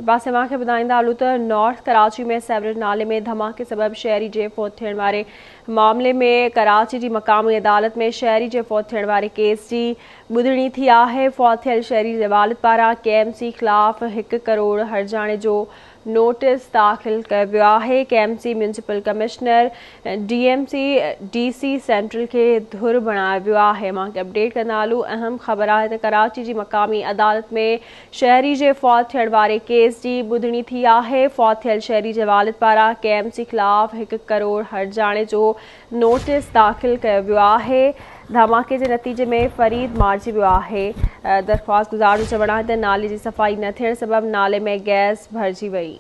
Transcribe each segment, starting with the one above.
ٻئي پاسي اوهان کي ٻڌائيندا هلون ته نارٿ ڪراچي ۾ سيوريج نالي ۾ ڌماڪي سبب شهري جي فوت ٿيڻ واري معاملي ۾ ڪراچي جي مقامي عدالت ۾ شهري جي فوت ٿيڻ واري ڪيس جي ٻڌڻي ٿي آهي فوت ٿيل شهري جي والد پاران ڪي ايم سي خلاف هڪ ڪروڙ هرجاڻي جو نوٽيس داخل ڪيو ويو آهي K M C municipal commissioner D M C D C central کي ڌر بڻايو ويو آهي اوهان کي اپڊيٽ ڪندا هلون اهم خبر آهي ته ڪراچي جي مقامي عدالت ۾ شهري جي فوت ٿيڻ واري ڪيس جي ٻڌڻي ٿي آهي، فوت ٿيل شهري جي والد پاران ڪي ايم سي خلاف هڪ ڪروڙ هرجاڻي جو نوٽيس داخل ڪيو ويو آهي، ڌماڪي جي نتيجي ۾ فريد مارجي ويو آهي، درخواست گذار جو چوڻ آهي ته نالي جي صفائي نه ٿيڻ سبب نالي ۾ گئس ڀرجي وئي،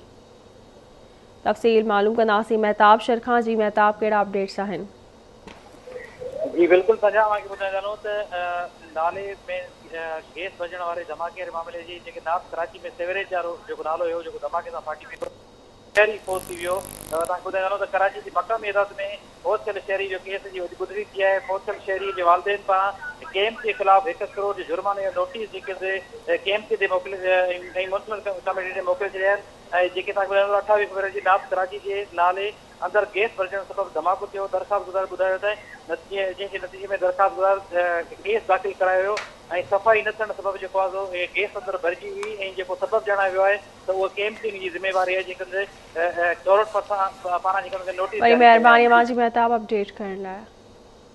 تفصيل معلوم ڪنداسين مهتاب شرخان، جي مهتاب ڪهڙا اپڊيٽس آهن. جي بلڪل سنجاء اوهان کي ٻڌائي ٿا هلون ته نالي ۾ گيس ڀرجڻ واري ڌماڪي واري معاملي جي جيڪي نارٿ ڪراچي ۾ سيوريج وارو جيڪو نالو هيو جيڪو ڌماڪي سان ڦاٽي پيو شهري فوت ٿي ويو توهان کي ٻڌائي ٿا هلون ته ڪراچي جي مقامي عدالت ۾ فوت ٿيل شهري جو ڪيس جي ٻڌڻي ٿي آهي فوت ٿيل شهري جي والدين پاران ڪي ايم سي خلاف هڪ ڪروڙ جي جرماني جو نوٽيس جيڪي سي ڪي ايم سي ڏي موڪلي ۽ مونسپل ڪميٽي ڏي موڪلي ڇڏيا آهن ۽ جيڪي توهان کي ٻڌائي ٿا اٺاويهه فيبروري جي نارٿ ڪراچي جي نالي اندر گئس ڀرجڻ سبب ڌماڪو ٿيو، درخواستگذار ٻڌايو ته جنهن جي نتيجي ۾ درخواستگذار ڪيس داخل ڪرايو ويو ۽ صفائي نه ٿيڻ سبب جيڪو آزو گئس اندر ڀرجي هئي ۽ جيڪو سبب ڄاڻايو ويو آهي ته اهو ڪي ايم سي ان جي ذميواري آهي جيڪڏهن ته ڪيورٽ پاران جيڪڏهن ته نوٽيس جاري ڪيو ويو آهي. وڏي مهرباني اوهان جي مهتاب اپڊيٽ ڪرڻ لاء.